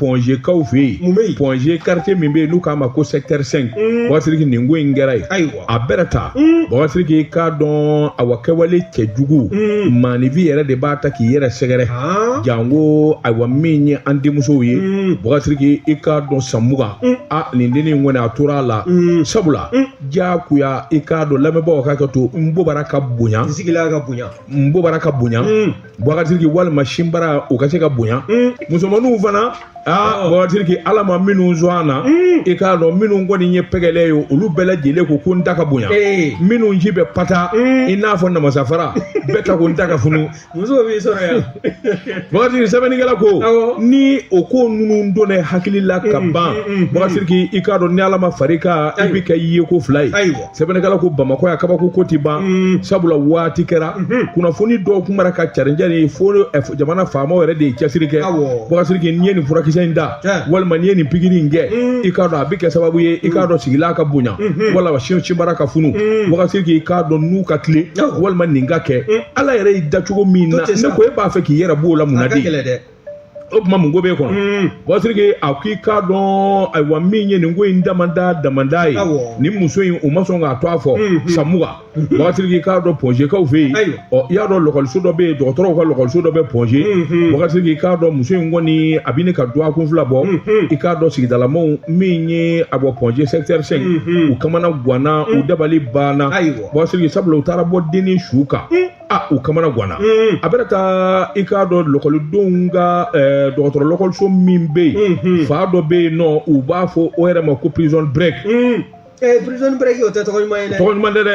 pɔnzekaw fɛ yen mun bɛ yen pɔnze kartiye min bɛ yen n'u k'a ma ko sɛkitɛri sɛnki mm. bagasiriki nin ko in kɛra yen ayiwa a bɛrɛ ta mm. bagasiriki k'a dɔn awa kɛwale cɛjugu mm. maaninfin yɛrɛ de b'a ta k'i yɛrɛ sɛgɛrɛ ah. janko ayiwa min ye an denmusow ye bagasiriki i k'a dɔn san mugan a nin denni in kɔni a tora a la sabula diyagoya i k'a dɔn lamɛnbaaw ka hakɛto n bobara ka bonya n sigilan ka bonya n bobara ka bonya bagasiriki walima sinbara u ka se ka bonya mm. musomaninw fana aa oh. bagasiriki ala ma minnu sɔn a na mm. i k'a dɔn minnu kɔni ye pɛgɛlɛ ye olu bɛɛ lajɛlen ko ko n ta ka bonya eh. minnu sin bɛ pata mm. i n'a fɔ namasafara bɛɛ ta ko n ta ka funu musow b'i sɔrɔ yan bagasiriki sɛbɛnnikɛla ko ni o ko ninnu don ne hakili la ka ban bagasiriki i k'a dɔn ni ala ma fara i kan i bɛ kɛ yeko fila ye sɛbɛnnikɛla ko bamakɔ yan kabako ko ti ban mm. sabula waati kɛra mm-hmm. kunnafoni dɔw kun bɔra ka carincarin fo eh, jamana faamaw yɛrɛ de ye cɛsiri kɛ bakasiriki n'i ye nin furakisɛ in da walima n'i ye nin pikiri in kɛ mm. i k'a dɔn a bɛ kɛ sababu ye i k'a mm. dɔn sigilan ka bonya mm-hmm. walima sinbara ka funu bakasiriki i k'a dɔn nun ka tilen walima nin ka kɛ ala yɛrɛ y'i da cogo min na ne ko e b'a fɛ k'i yɛrɛ b'o la mun na de o tuma mun ko b'e kɔnɔ mm. bagasiriki a ko i k'a dɔn ayiwa min ye nin ko in damada damada ye nin muso in u ma sɔn k'a tɔgɔ fɔ mm-hmm. san mugan mm-hmm. bagasiriki i k'a dɔn pɔnzekaw fɛ yen ɔ i y'a dɔn lɔkɔliso dɔ bɛ yen dɔgɔtɔrɔw ka lɔkɔliso dɔ bɛ pɔnze mm-hmm. bagasiriki i k'a dɔn muso in kɔni a bɛ ɲini ka dɔgɔkun fila bɔ i k'a dɔn sigidalamaw min ye a bɔ pɔnze sɛkitɛri sɛnki u kamana gwanna u dabali banna bagasiriki sabula u taara bɔ denni su kan. a u kamana ganna mm. a bɛrɛ ta i k'a dɔn lɔkɔlidenw ka eh, dɔgɔtɔrɔ lɔkɔliso min bɛ yen mm-hmm. fan dɔ bɛ yen n'u b'a fɔ o yɛrɛ ma ko prison break mm. eh, prison break o tɛ tɔgɔ ɲuman ye dɛ tɔgɔ ɲuman tɛ dɛ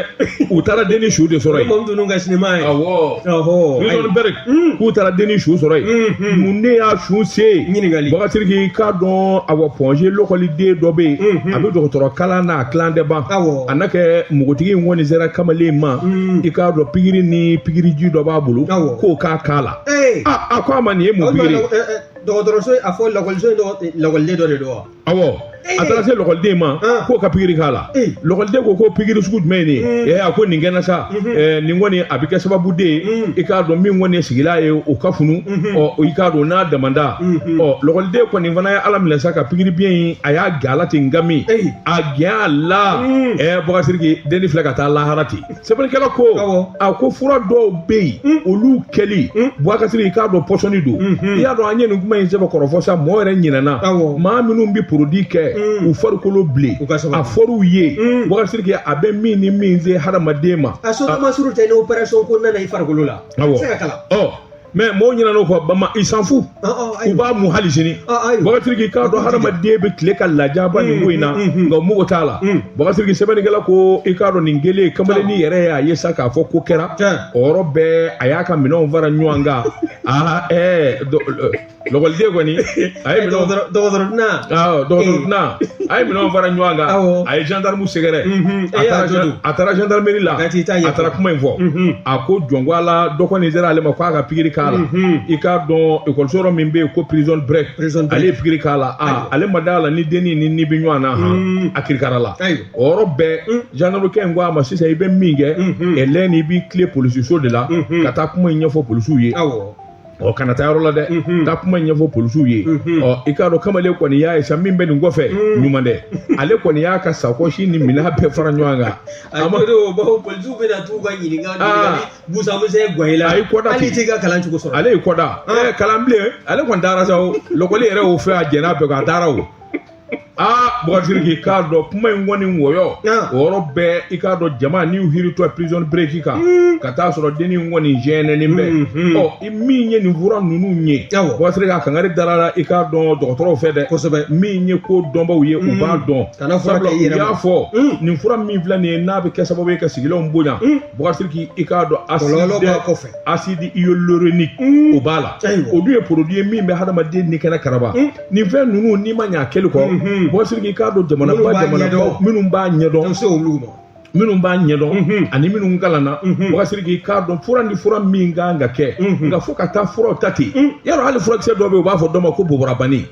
u taara denni su de sɔrɔ yen mɔmu ninnu ka sinima ye awɔ prison break mm. k'u taara denni su sɔrɔ yen mm-hmm. mun de y'a su se ɲininkali bagasiriki i k'a dɔn awɔ pɔnze lɔkɔliden dɔ bɛ yen mm-hmm. a bɛ dɔgɔtɔrɔ kalan na a tilan tɛ ban awɔ a na kɛ npogotigi in kɔni sera kamalen ma i k'a dɔn pikiri ni pikiriji dɔ b'a bolo Awɔ. k'o k'a k'a la Ee! a a ko a ma nin ye mun O tuma pikiri ye? lɔ- ɛ, ɛ, dɔgɔtɔrɔso a fɔ lakɔliso in dɔgɔ- eh, lakɔliden dɔ de don wa awɔ Ee! a taara se lɔkɔliden ma Ah. k'o ka pikiri k'a la Ee! lɔkɔliden ko ko pikiri sugu jumɛn ye nin Mm. ye Ee, a ko nin kɛra sa Ɛɛ, nin kɔni a bɛ kɛ sababu de ye Mm. i k'a dɔn min kɔni ye sigilan ye o ka funu ɔ i k'a dɔn n'a damanda ɔ lɔgɔliden kɔni fana y'a laminɛ sa ka pikiri biɲɛ in a y'a k'a la ten nka min a kɛ a la ɛɛ bagasiriki denni filɛ ka taa lahara ten sɛbɛnnikɛla ko a ko fura dɔw bɛ yen olu kɛli bagasiriki i k'a dɔn pɔsɔni don i y'a dɔn an ye nin kuma in sɛbɛn kɔrɔfɔ sa mɔɔ yɛrɛ ɲinɛna maa minnu bɛ porodi kɛ u farikolo bilen a fɔr'u ye bagasiriki a bɛ min ni min se hadamaden ma a sɔrɔ ma surutu ni operasɔn ko nana i farikolo la a bɛ se ka kala ɔ mais mɔgɔw ɲinɛn'o kɔ bama i s'en fout u b'a mun hali sini Bua Siriki i k'a dɔn hadamaden bɛ tile ka lajaba nin ko in na nka mugu t'a la Bua Siriki sɛbɛnnikɛla ko i k'a dɔn nin kɛlen kamalennin yɛrɛ y'a ye sa k'a fɔ ko kɛra o yɔrɔ bɛɛ a y'a ka minɛnw fara ɲɔgɔn kan aa ɛɛ lɔkɔliden kɔni a ye minɛnw dɔgɔtɔrɔ dɔgɔtɔrɔ na awɔ dɔgɔtɔrɔ tɛna a ye minɛnw fara ɲɔgɔn kan Awɔ. a ye gendarme sɛgɛrɛ Mhm. a E y'a taara to gen- dun? a taara gendarmerie la Ka t'i ta ɲɛfɔ. a taara kuma in fɔ Mhm. a ko jɔn ko Ala dɔ kɔni sera ale ma k'a ka pikiri k'a la Mhm. i k'a dɔn ekɔliso yɔrɔ min bɛ yen ko prison break Prison break. ale ye pikiri k'a la Ayiwa. a ale ma d'a la ni denni ni ni bɛ ɲɔgɔn na han Mhm. a kirikara la Ayiwa. o yɔrɔ bɛɛ gendarme kɛ in ko a ma sisan i bɛ min kɛ Mhm. ɛlɛn i b'i tilen polisiso de la Mhm. ka taa kuma in ɲɛfɔ polisiw ye awɔ ɔ kana taa yɔrɔ la dɛ taa kuma ɲɛfɔ polisiw ye ɔ i k'a dɔn kamalen kɔni y'a ye sa min bɛ nin kɔfɛ ɲuman tɛ ale kɔni y'a ka sakɔsi ni minɛn bɛɛ fara ɲɔgɔn kan a ma o bawo polisiw bɛ na t'u ka ɲininka ɲininkali busa misɛn gosi la a ye kɔda hali t'i ka kalan cogo sɔrɔ ale ye kɔda kalan bilen ale kɔni taara sa o lɔkɔli yɛrɛ y'o fɛ a jɛn'a bɛɛ kɔ a taara o aa Bua Siriki i k'a dɔn kuma in kɔni wɔyɔ o yɔrɔ bɛɛ i k'a dɔn jama n'u hiritɔ prison break kan hmm. ka taa sɔrɔ denni in kɔni jɛnɛnen bɛ hmm, hmm. ɔ i min ye nin fura ninnu ye Bua Siriki a kankari dar'a la i k'a dɔn dɔgɔtɔrɔw fɛ dɛ kosɛbɛ min ye ko dɔnbaw ye u b'a dɔn sabula u y'a fɔ nin fura min filɛ nin ye n'a bɛ kɛ sababu ye ka sigilenw bonya Bua Siriki i k'a dɔn acide acide hyaluronique o b'a la o dun ye produit ye min bɛ hadamaden ni kɛnɛ karaba nin fɛn ninnu n'i ma ɲɛ a kɛli kɔ Bua Siriki i k'a dɔn jamanaba jamanaba minnu b'a ɲɛdɔn minnu b'a ɲɛdɔn ani minnu kalanna Bua Siriki i k'a dɔn fura ni fura min kan ka kɛ nka fo ka taa furaw ta ten yɔrɔ hali furakisɛ dɔ bɛ yen u b'a fɔ dɔ ma ko boborabani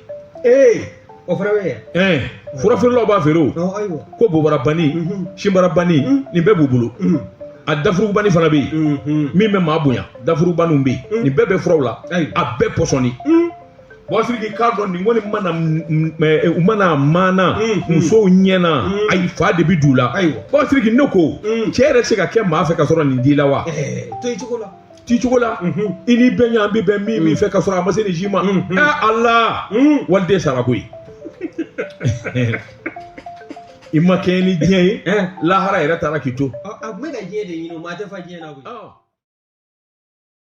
ee o fana bɛ ɛɛ fura feerelaw b'a feere o ko boborabani sinbarabani nin bɛɛ b'u bolo a dafurubani fana bɛ yen min bɛ maa bonya dafurubaniw bɛ yen nin bɛɛ bɛ furaw la a bɛɛ pɔsɔni Bua Siriki i k'a dɔn nin kɔni mana eh, u mana maana mm, mm. musow ɲɛ na mm. ayi fa de bi d'u la Bua Siriki ne ko cɛ yɛrɛ se ka kɛ maa fɛ ka sɔrɔ nin t'i la wa. Eh, to i cogo la. t'i cogo la mm-hmm. i ni bɛn yan bi bɛn min min fɛ ka sɔrɔ a ma se nin si ma mm-hmm. ɛ eh, ala waliden sara koyi i ma kɛ ni diɲɛ ye lahara yɛrɛ taara k'i to. a tun bɛ ka diɲɛ de ɲini o ma a tɛ fa diɲɛ na koyi.